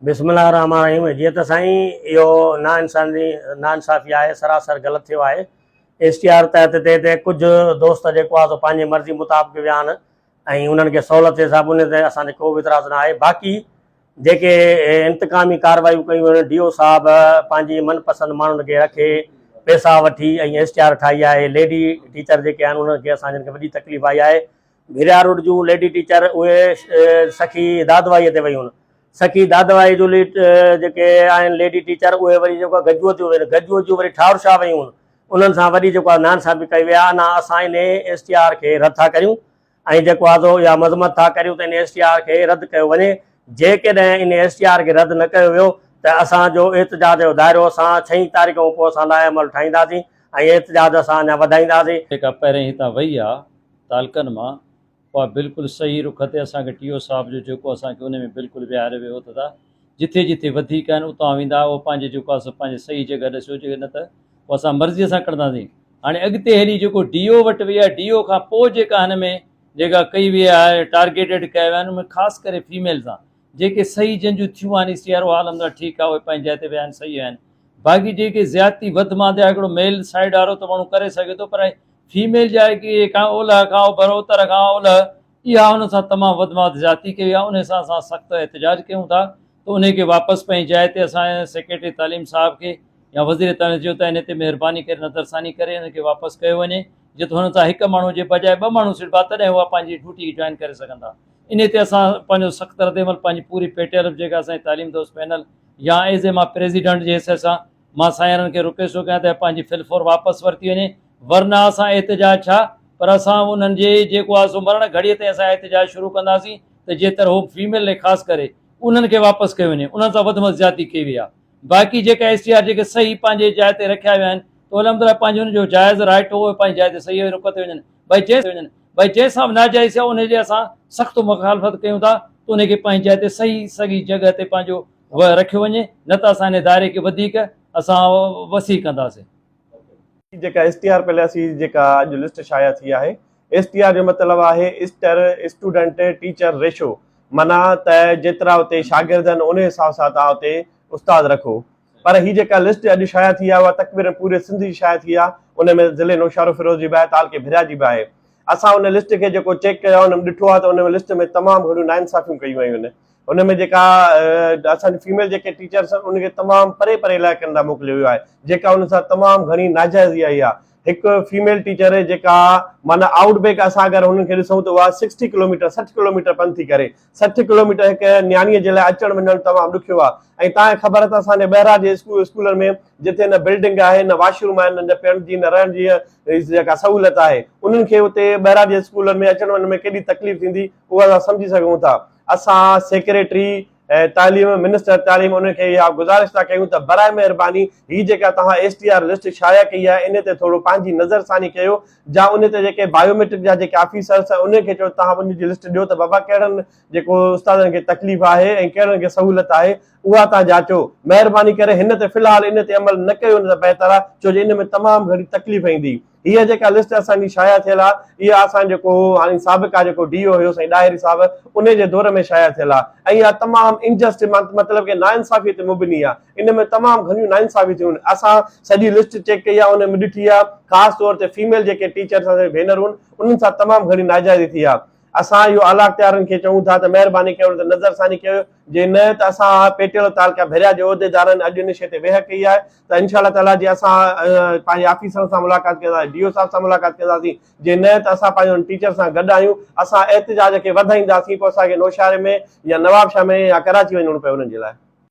بسم الله الرحمٰن الرحيم جيئن ته سائين اهو نا انساني نا انصافي آهي سراسر غلط ٿيو آهي ايس ٽي آر تحت تي تي ڪجهه دوست جيڪو آهي سو پنهنجي مرضي مطابق ويا آهن ۽ انهن کي سهولت جي حساب ان تي اسان تي ڪو به اعتراض نه آهي باقي جيڪي انتقامي ڪاروايون ڪيون آهن ڊي او صاحب پنهنجي من پسند ماڻهن کي رکي پيسا وٺي ۽ ايس ٽي آر ٺاهي آهي ليڊي ٽيچر جيڪي آهن انهن کي اسان جن کي وڏي تڪليف آئي آهي گهريا روڊ جون ليڊي ٽيچر اهي سخي دادوائيء تي ويون. سخي دادوائيء جون جيڪي آهن ليڊي ٽيچر اهي وري جيڪو آهي گجوء تي ويون. گجوء جون وري ٺاهر شاهه ويون. انهن سان وڏي جيڪو آهي نانسابي ڪئي وئي آهي. انا اسان ان ايس ٽي آر کي رد ٿا ڪريون ۽ جيڪو آهي سو اها مذمت ٿا ڪريون ته ان ايس ٽي آر کي رد ڪيو وڃي. جيڪڏهن ان ايس ٽي آر کي رد نه ڪيو ويو ته اسان جو احتجاج جو دائرو اسان ڇهين تاريخ کان پوء اسان لاء عمل ٺاهينداسين ۽ احتجاج اسان اڃا وڌائينداسين. جيڪا پهرين هتان وئي آهي. تعلقن مان اها بلڪل صحيح رخ تي اسان کي ٽي او صاحب جو جيڪو اسان کي ان ۾ بلڪل ويهاري ويو ته ته جٿي جٿي وڌيڪ آهن اتان ويندا اهو پنهنجي جيڪو آهي سو پنهنجي صحيح جڳهه ڏسيو جي نه ته پوء اسان مرضيء سان ڪڙنداسين هاڻي اڳتي هلي جيڪو ڊي او وٽ ويا ڊي او کان پوء جيڪا هن ۾ جيڪا ڪئي ويئي آهي ٽارگيٽيڊ ڪيا ويا آهن ان ۾ خاص ڪري فيميل سان جيڪي صحيح جن جون ٿيون آهن سي آر او عالم سان ٺيڪ آهي اهي پنهنجي جاء تي ويا آهن صحيح آهن باقي جيڪي زيادتي وڌ مانڌ آهي هڪڙو ميل سائيڊ وارو ته ماڻهو ڪري سگهي ٿو پر فيميل جي آء ڪري کان اولهه کان اوڀر اتر کان اولهه اها ان سان تمام وڌماڌ زيادتي ڪئي وئي آهي انهي سان اسان سخت احتجاج ڪيون ٿا ته انهي کي واپس پنهنجي جاء تي اسان سيڪريٽري تعليم صاحب کي يا وزير تعليم چيو ته انهي تي مهرباني ڪري نظر ثاني ڪري انهن کي واپس ڪيو وڃي جي ته هنن سان هڪ ماڻهو جي بجاء ٻه ماڻهو سڏبا تڏهن هو پنهنجي ڊيوٽي جوائن ڪري سگهندا انهي تي اسان پنهنجو سخت ردعمل پنهنجي پوري پي ٽي ايل ايف جيڪا اسان جي تعليم دوست پينل يا ايز اي مان پريزيڊنٽ جي حيثيت سان مان سائينرن کي روڪي ٿو ڪيان ته پنهنجي فل فور واپس ورتي وڃي ورنه اسان احتجاج ڇا پر اسان انهن جي جيڪو آهي سو مرڻ گهڙيء تائين اسان احتجاج شروع ڪنداسين ته جيتر هو فيميل ۽ خاص ڪري انهن کي واپس ڪيو وڃي انهن سان وڌ م زيادتي ڪئي وئي آهي باقي جيڪا ايس ٽي آر جيڪي صحيح پنهنجي جاء تي رکيا ويا آهن ته الحمدلله پنهنجي ان جو جائز رائٽ هو پنهنجي جاء تي صحيح رڪ تي وڃن ڀاء جنهن ڀاء جنهن سان به ناجائز ٿيو ان جي اسان سخت مخالفت ڪيون ٿا ته ان کي پنهنجي جاء تي صحيح سڳي جڳهه تي پنهنجو و رکيو وڃي نه ته اسان انهي دائري کي وڌيڪ اسان وسيع ڪنداسين. جيڪا ايس ٽي آر پليسي جيڪا اڄ لسٽ شايع ٿي آهي ايس ٽي آر جو مطلب آهي اسٽر اسٽوڊنٽ ٽيچر ريشو معنيٰ ته جيترا اتي شاگرد آهن انهي حساب سان توهان اتي استاد رکو پر هي جيڪا لسٽ اڄ شايع ٿي آهي اها تقبيرن پوري سنڌ جي شايع ٿي آهي انهي ۾ ضلعي نوشهروفيروز جي به آهي تعلقي ڀريا جي به آهي اسان ان لسٽ کي جيڪو چيڪ ڪيو آهي ان ۾ ڏٺو آهي ته ان لسٽ ۾ تمام گهڻيون ناانصافيون ڪيون ويون آهن ان ۾ جيڪا اسان جي فيميل جيڪي ٽيچرس آهن ان کي تمام پري پري علائقن ڏانهن موڪليو ويو آهي جيڪا ان سان تمام گهڻي ناجائزي آئي آهي هڪ فيميل ٽيچر جيڪا معنيٰ آؤٽ بيڪ اسان اگر هنن کي ڏسون ته اها سڪسٽي ڪلوميٽر سٺ ڪلوميٽر پنڌ ٿي ڪري سٺ ڪلوميٽر هڪ نياڻيء جي لاء اچڻ وڃڻ تمام ڏکيو آهي ۽ تانئين خبر ته اسان جي ٻهراڙي جي اسڪول اسڪولن ۾ جتي نه بلڊنگ آهي نه واش روم آهن نه پيڻ جي نه رهڻ جي جيڪا سهولت آهي انهن کي اتي ٻهراڙي جي اسڪولن ۾ اچڻ وڃڻ ۾ ڪيڏي تڪليف ٿيندي اهو اسان سمجهي سگهون ٿا اسان سيڪريٽري تعليم منسٽر تعليم انهن کي اها گذارش ٿا ڪيون ته برائي مهرباني هي جيڪا توهان ايس ٽي آر لسٽ شايع ڪئي آهي ان تي ٿورو پنهنجي نظر ثاني ڪيو جا ان تي جيڪي بايوميٽرڪ جا جيڪي آفيسرس آهن انهن کي چئو توهان ان جي لسٽ ڏيو ته بابا ڪهڙن جيڪو استادن کي تڪليف آهي ۽ ڪهڙن کي سهولت آهي اها توهان جاچو مهرباني ڪري هن تي في الحال ان تي عمل نه ڪيو ته بهتر آهي ڇو جو ان ۾ تمام گهڻي تڪليف ايندي هيء جيڪا لسٽ اسان جي شايع ٿيل آهي اها اسان جيڪو هاڻي سابقا جيڪو ڊي او هيو سائين ڏاهري صاحب انهي جي دور ۾ شايع ٿيل آهي ۽ اها تمام انجسٽ مطلب ڪي ناانصافي تي مبني آهي ان ۾ تمام گهڻيون ناانصافيون ٿيون آهن اسان سڄي لسٽ چيڪ ڪئي آهي ان ۾ ڏٺي آهي خاص طور تي فيميل جيڪي ٽيچرس اسان جون ڀينرون آهن انهن سان تمام گهڻي ناجائزي ٿي آهي اسان اهو اعلاختيارن کي چئون ٿا ته مهرباني ڪري ان تي نظرثاني ڪيو جي نه ته اسان پيٽيل تعلقه ڀيريا جي عهديدارن اڄ ان شيء تي ويهه ڪئي آهي ته انشاء الله تعالي جي اسان پنهنجي آفيسرن سان ملاقات ڪنداسين ڊي او صاحب سان ملاقات ڪنداسين جي نه ته اسان پنهنجي ان ٽيچر سان گڏ آهيون اسان احتجاج کي وڌائينداسين پوء اسان کي نوشهري ۾ يا نوابشاهه ۾ يا ڪراچي وڃڻو پئي انهن جي لاء